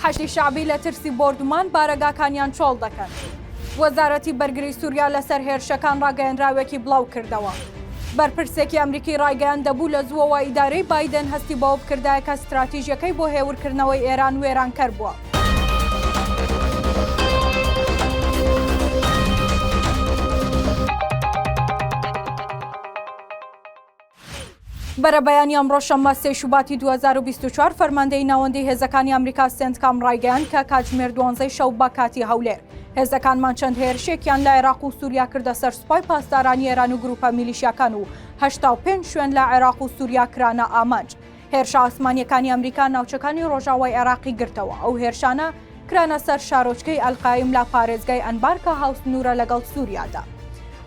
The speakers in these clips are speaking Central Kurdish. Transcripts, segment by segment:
حەشدی شەعبی لە ترسی بۆردومان بارەگاکانیان چۆڵ دەکەن. وەزارەتی بەرگری سوریا لەسەر هێرشەکان ڕاگەیەنراوێکی بڵاوکردەوە. بەرپرسێکی ئەمریکی ڕایگەیاند دەبوو لە زووەوە ئیدارەی بایدن هەستی بەوە بکردایە کە ستراتیژیەکەی بۆ هێورکردنەوەی ئێران وێرانکەر بووە. بەرەبەیانی ئەمڕۆ شەممە سێی شوباتی 2024 فەرماندەی ناوەندی هێزەکانی ئەمریکا سێنتکام ڕایگەیان کە کاتژمێر دوانزەی شەو بە کاتی هەولێر هێزەکانمان چەند هێرشێکیان لە عێراق و سووریا کردە سەر سوپای پاسدارانی ئێران و گروپە میلیشیاکان و هەشتا و پێنج شوێن لە عێراق و سووریا کرانە ئامانج هێرشە ئاسمانیەکانی ئەمریکا ناوچەکانی ڕۆژاوای عێراقی گرتەوە ئەو هێرشانە کرانە سەر شارۆچکەی ئەلقایم لە پارێزگای ئەنبارکە هاوسنوورە لەگەڵ سووریادا.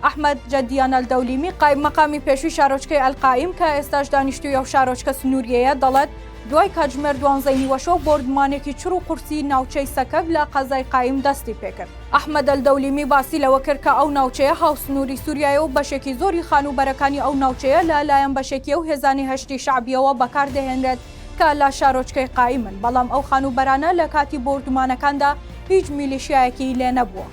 ئەحمد جەدیانە دەولیمی قایب مەقامی پێشوی شارۆچکەی ئەلقایم کە ئێستاش دانیشتوی ئەو شارۆچکە سنووریەیە دەڵێت دوای کاتژمێر دوانزەی نیوەشەو بۆردمانێکی چڕ و قورسی ناوچەی سەکەب لە قەزای قایم دەستی پێکرد. ئەحمەد ئەلدەولیمی باسی لەوە کرد کە ئەو ناوچەیە هاوسنووری سووریایە و بەشێکی زۆری خانووبەرەکانی ئەو ناوچەیە لە لایەن بەشێکی ئەو هێزانەی هەشدی شەعبییەوە بەکار دەهێنرێت کە لە شارۆچکەی قائیمن، بەڵام ئەو خانووبەرانە لە کاتی بۆردومانەکاندا هیچ میلیشیایەکی لێ نەبووە.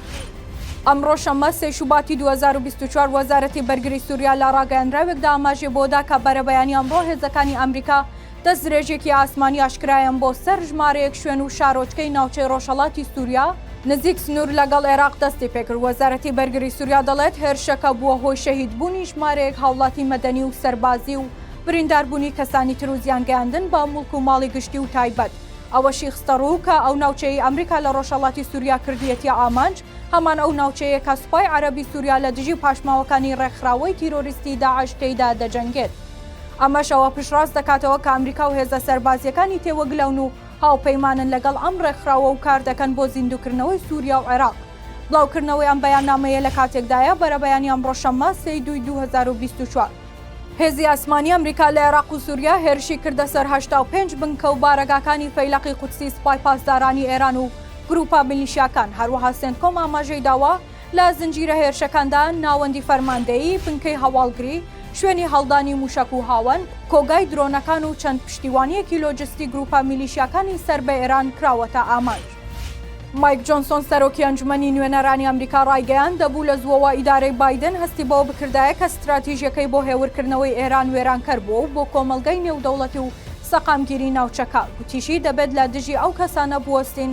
ئەمڕۆ شەممە سێ شوباتی دوو هەزار و بیست و چوار وەزارەتی بەرگری سووریا لە ڕاگەیەنراوێکدا ئاماژەی بۆ دا کە بەرەبەیانی ئەمڕۆ هێزەکانی ئەمریکا دەستدرێژییەکی ئاسمانی ئاشکرایان بۆ سەر ژمارەیەک شوێن و شارۆچکەی ناوچەی ڕۆژهەڵاتی سووریا نزیک سنوور لەگەڵ عێراق دەستیپێکرد، وەزارەتی بەرگری سووریا دەڵێت، هێرشەکە بووە هۆی شەهیدبوونی ژمارەیەک هاوڵاتی مەدەنی و سەربازی و برینداربوونی کەسانی تر و زیانگەیاندن بە موڵک و ماڵی گشتی و تایبەت. ئەوەشی خستەڕوو کە ئەو ناوچەیەی ئەمریکا لە ڕۆژهەڵاتی سووریا کردیەتیە ئامانج، هەمان ئەو ناوچەیە کە سوپای عەرەبی سووریا لە دژی پاشماوەکانی ڕێکخراوەی تیرۆریستی داعش تێیدا دەجەنگێت. ئەمەش ئەوە پشتڕاست دەکاتەوە کە ئەمریکا و هێزە سەربازییەکانی تێوەگلەون و هاوپەیمانن لەگەڵ ئەم ڕێکخراوە و کار دەکەن بۆ زیندووکردنەوەی سووریا و عێراق. بڵاوکردنەوەی ئەم بەیاننامەیە لە کاتێکدایە، بەرەبەیانی ئەمڕۆ شەممە، سێی دووی دوو هەزار و بیست و چوار، هێزی ئاسمانی ئەمریکا لە عێراق و سووریا هێرشی کردە سەر هەشتا و پێنج بنکە و بارەگاکانی فەیلەقی قودسی سپای پاسدارانی ئێران و گرووپە میلیشیاکان، هەروەها سێنتکۆم ئاماژەی داوە، لە زنجیرە هێرشەکاندا ناوەندی فەرماندەیی، بنکەی هەواڵگری، شوێنی هەڵدانی مووشەک و هاوەن، کۆگای درۆنەکان و چەند پشتیوانییەکی لۆجستی گرووپە میلیشیاکانی سەر بە ئێران کراوەتە ئامانج. مایک جۆنسۆن، سەرۆکی ئەنجومەنی نوێنەرانی ئەمریکا ڕایگەیاند، دەبوو لە زووەوە ئیدارەی بایدن هەستی بەوە بکردایە کە ستراتیژییەکەی بۆ هێورکردنەوەی ئێران وێرانکەر بووە و بۆ کۆمەڵگەی نێودەوڵەتی و سەقامگیری ناوچەکە، گوتیشی، دەبێت لە دژی ئەو کەسانە بوەستین،